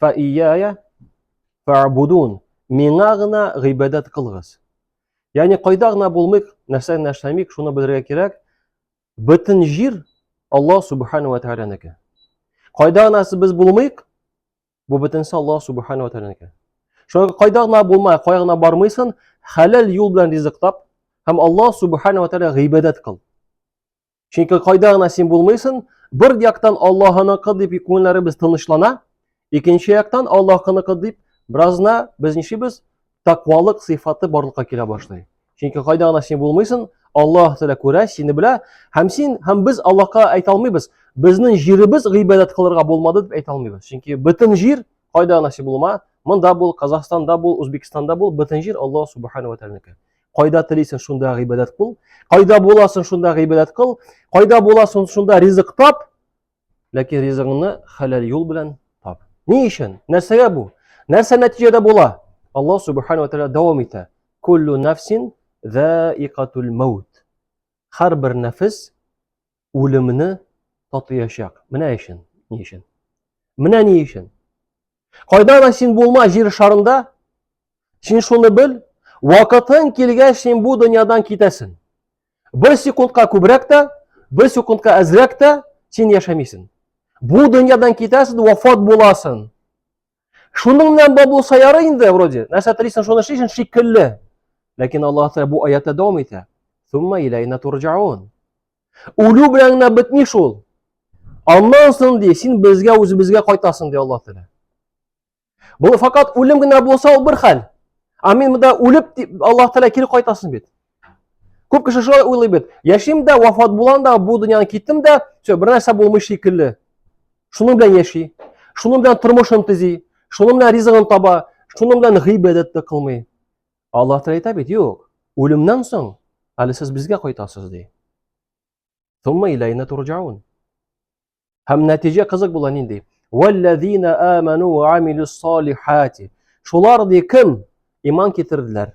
Фа ияя фаабудун. Миңа гына гыйбадәт кылгыз. Ягъни кайда гына булмыйк, нәрсә генә эшләмик, шуны белергә кирәк. Бөтен җир Аллаһ субхана ва тәгаләнеке. Кайда гына без булмыйк, бу бөтенесе Аллаһ субхана ва тәгаләнеке. Шуңа кайда гына булмай, кая гына бармыйсын, хәләл юл белән ризык тап һәм Аллаһ субхана ва тәгалә гыйбадәт кыл. Чөнки кайда гына син булмыйсың, бер яктан Аллаһыныкы дип күңелләребез тынычлана, икенче яктан Аллаһыныкы дип беразна без ничибез? Тәкъвалык сыйфаты барлыкка килә башлый. Чөнки кайда гына син булмыйсың, Аллаһ Тәгалә күрә, сине белә, һәм син һәм без Аллаһка әйтә алмыйбыз, безнең җиребез гыйбадәт кылырга булмады дип әйтә алмыйбыз. Чөнки бөтен җир кайда гына син булма, монда бул, Казахстанда бул, Үзбекстанда бул, бөтен җир Аллаһ Субхану ва Тәгаләнеке. Кайда телисең, шунда гыйбадәт кыл. Кайда буласың, шунда гыйбадәт кыл. Кайда буласың, шунда ризык тап. Ләкин ризыгыңны хәләл юл белән тап. Ни өчен? Нәрсәгә бу? Нәрсә нәтиҗәдә була? Аллаһ субхану ва тааля дәвам итә. Куллу нафсин заикатул маут. Һәр бер нәфис үлемне татыячак. Менә өчен, ни өчен? Менә ни өчен? Кайда да син булма җир шарында, син шуны бел, вакытың килгәч син бу дөньядан китәсең. Бер секундка күбрәк тә, бер секундка әзрәк тә син яшәмисең. Бу дөньядан китәсең, вафат буласың. Шуның белән бар булса ярый инде, вроде. Нәрсә телисең, шуны эшлисең шикелле. Ләкин Аллаһ Тәгалә бу аятта дәвам итә. Сумма иләйна турҗаун. Үлү белән генә бетми шул. Аннан соң ди, син безгә үзебезгә кайтасың ди Аллаһ Тәгалә. Бу факат үлем генә булса ул бер хәл. Амин, монда үлеп Аллаһ Тәгалә кире кайтасың бит. Күп кеше шулай уйлый бит. Яшим дә, вафат булам да, бу дөньяны киттем дә, все, бер нәрсә булмый шикелле. Шуның белән яши, шуның белән тормышын төзи, шуның белән ризыгын таба, шуның белән гыйбадәт тә кылмый. Алла Тәгалә әйтә бит, юк, үлемнән соң әле сез безгә кайтасыз ди. Тумма иләйнә турҗаун. Һәм нәтиҗә кызык була нинди? Валлазина аману ва амилус салихати. Шулар ди кем иман китерделәр?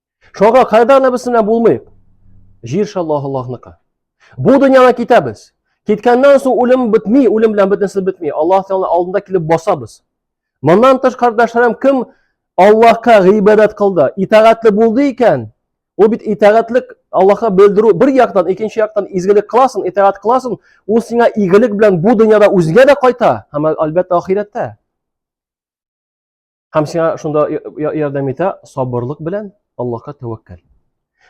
Шуңа кайда гына без менә булмыйк. Җир шаллаһ Аллаһныкы. Бу дөньяга китәбез. Киткәннән соң үлем бетми, үлем белән бөтенесе бетми. Аллаһ Тәгалә алдында килеп басабыз. Моннан тыш кардәшләрем кем Аллаһка гыйбадәт кылды, итагатьле булды икән, ул бит итагатьлек Аллаһка белдерү бер яктан, икенче яктан изгелек кыласың, итагать кыласың, ул сиңа игелек белән бу дөньяда үзгә дә кайта, һәм әлбәттә ахирәттә. Һәм сиңа шунда ярдәм итә сабырлык белән Аллаһка тәвәккәл.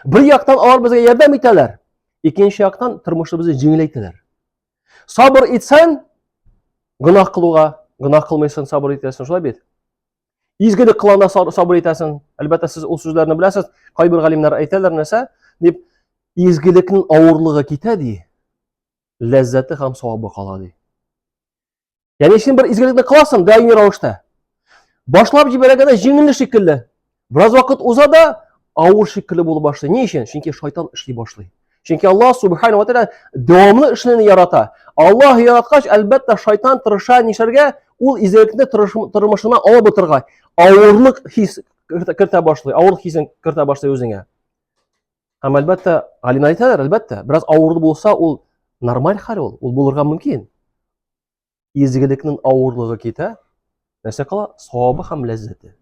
Бер яктан алар безгә ярдәм итәләр, икенче яктан тормышыбызны җиңеләйтәләр. Сабыр итсәң, гөнаһ кылуга, гөнаһ кылмыйсың, сабыр итәсең, шулай бит? Изгелек кылганда сабыр итәсең. Әлбәттә, сез ул сүзләрне беләсез. Кайбер галимнәр әйтәләр нәрсә? Дип, изгелекнең авырлыгы китә ди, ләззәте һәм савабы кала ди. Яни син бер изгелекне кыласың даими рәвештә. Башлап җибәргәндә җиңелле шикелле. Бераз вакыт уза да авыр шикелле булып башлый. Ни өчен? Чөнки шайтан эшли башлый. Чөнки Аллаһ субхану ва тааля дәвамлы эшне ярата. Аллаһ яраткач, әлбәттә, шайтан тырыша нишләргә? Ул изгелекне тормышына алып утырга, авырлык хис кертә башлый, авыр хисен кертә башлый үзеңә. Һәм әлбәттә, Алина әйтәләр, әлбәттә, бераз авырлы булса, ул нормаль хәл ул, ул булырга мөмкин. Изгелекнең авырлыгы китә, нәрсә кала? Савабы һәм ләззәте.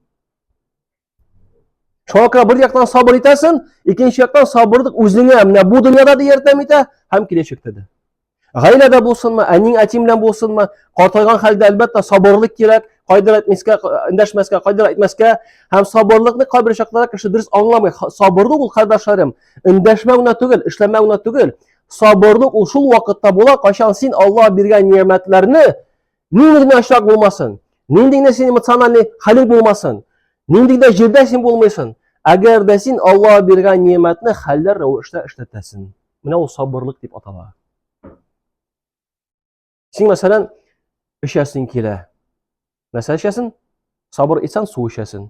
Шуңа күрә бер яктан сабыр итәсен, икенче яктан сабырлык үзеңә менә бу дөньяда да ярдәм итә һәм киләчәктә дә. Гаиләдә булсынмы, әниң әтиң белән булсынмы, картайган хәлдә әлбәттә сабырлык кирәк, кайдыр әйтмәскә, эндәшмәскә, кайдыр әйтмәскә һәм сабырлыкны кайбер чакларда кеше дөрес аңламый. Сабырлык ул кардәшләрем, эндәшмәү генә түгел, эшләмәү генә түгел. Сабырлык ул шул вакытта була, кайчан син Аллаһ биргән ниәмәтләрне Нинди генә очрак булмасын, нинди генә син эмоциональный хәлең булмасын, нинди генә җирдә син булмыйсын, әгәр дә син Аллаһ биргән ниәмәтне хәлләр рәвештә эшләтәсең. Менә ул сабырлык дип атала. Син, мәсәлән, эчәсең килә. Нәрсә эчәсең? Сабыр итсәң, су эчәсең.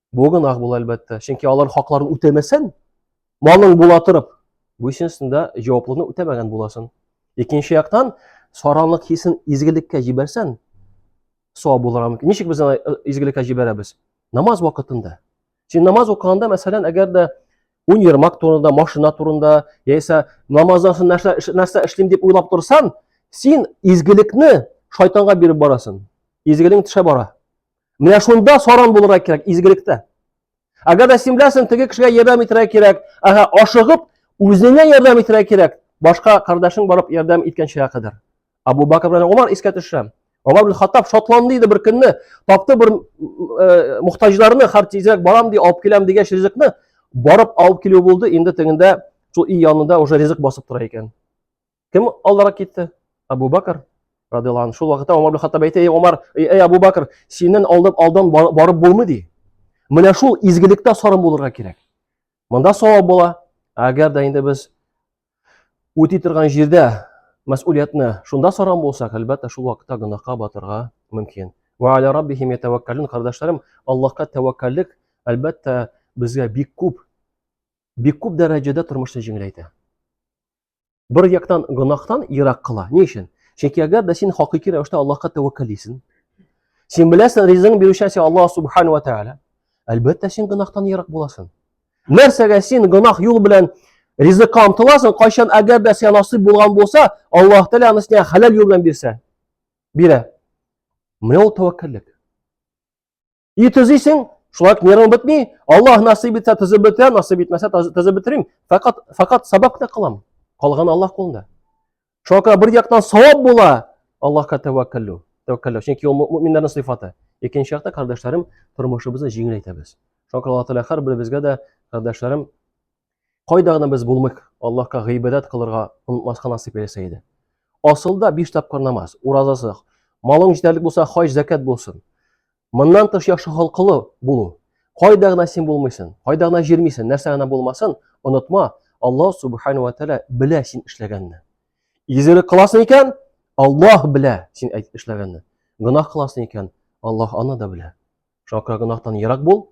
Бу гөнаһ була әлбәттә. Чөнки алар хакларын үтәмәсәң, малың була торып, бу өченсендә җаваплылыкны үтәмәгән буласың. Икенче яктан, саранлык хисен изгелеккә җибәрсәң, сау булырга мөмкин. Ничек без аны э, изгелеккә җибәрәбез? Намаз вакытында. Син намаз укыганда, мәсәлән, әгәр дә ун ермак турында, машина турында, яисә намаздан соң нәрсә, нәрсә эшлим дип уйлап торсаң, син изгелекне шайтанга биреп барасың. Изгелең төшә бара. Менә шунда саран булырга кирәк изгелектә. Әгәр дә симләсен теге кешегә ярдәм итәргә кирәк, ага, ашыгып үзеңә ярдәм итәргә кирәк. Башка кардәшең барып ярдәм иткәнчегә кадәр. Абу Бакр белән Умар искә төшә. Омар ибн Хаттаб шатланды иде бер көнне, тапты бер э, мухтаҗларны, хәр тизрәк барам ди, алып киләм дигәч ризыкны, барып алып килү булды, инде тегендә шул өй янында уже ризык басып тора икән. Кем алдарак китте? Абу Бакр радиаллаху анху. Шул вакытта Умар ибн Хаттаб әйтә, "Эй Умар, эй Абу Бакр, синнән алдап алдан барып булмый" ди. Менә шул изгелектә сарым булырга кирәк. Монда савап була. Әгәр дә инде без үти торган җирдә мәс'улиятне шунда сарам булсак, әлбәттә, шул вакытта гөнаһка батырга мөмкин. Ва аля раббихим ятаваккалун, кардәшләрем, Аллаһка тәвәккәллек, әлбәттә, безгә бик күп бик күп дәрәҗәдә тормышны җиңеләйтә. бер яктан гөнаһтан ерак кыла. Ни өчен? Чөнки әгәр дә син хакыйкый рәвештә Аллаһка тәвәккәл исең, син беләсең, ризыгың бирүчесе Аллаһ субхану ва тааля, әлбәттә син гөнаһтан ерак буласың. Нәрсәгә син гөнаһ юл белән ризыкка омтыласың, кайчан әгәр дә сиңа насыйп булган булса, Аллаһ Тәгалә аны сиңа хәләл юл белән бирсә, бирә. Менә ул тәвәккәллек. И төзисең, шулай нервың бетми, Аллаһ насыйп итсә төзеп бетерәм, насыйп итмәсә төзеп бетермим. Фәкать фәкать сабак та кылам. Калган Аллаһ кулында. Шуңа күрә бер яктан савап була, Аллаһка тәвәккәлләү. Тәвәккәлләү, чөнки ул мөэминнәрнең сыйфаты. Икенче яктан, кардәшләрем, тормышыбызны җиңеләйтәбез. Шуңа күрә Аллаһ Тәгалә һәрберебезгә дә, кардәшләрем, Кайда гына без булмыйк, Аллаһка гыйбадәт кылырга онытмаска насыйп эйләсә иде. Асылда биш тапкыр намаз, уразасы, малың җитәрлек булса, хаҗ, зәкәт булсын. Моннан тыш яхшы халкылы булу. Кайда гына син булмыйсың, кайда гына җирмисең, нәрсә гына булмасын, онытма, Аллаһ субхану ва тәгалә белә син эшләгәнне. Изелек кыласың икән, Аллаһ белә син эшләгәнне. Гынах кыласың икән, Аллаһ аны да белә. Шуңа күрә гынахтан ерак бул,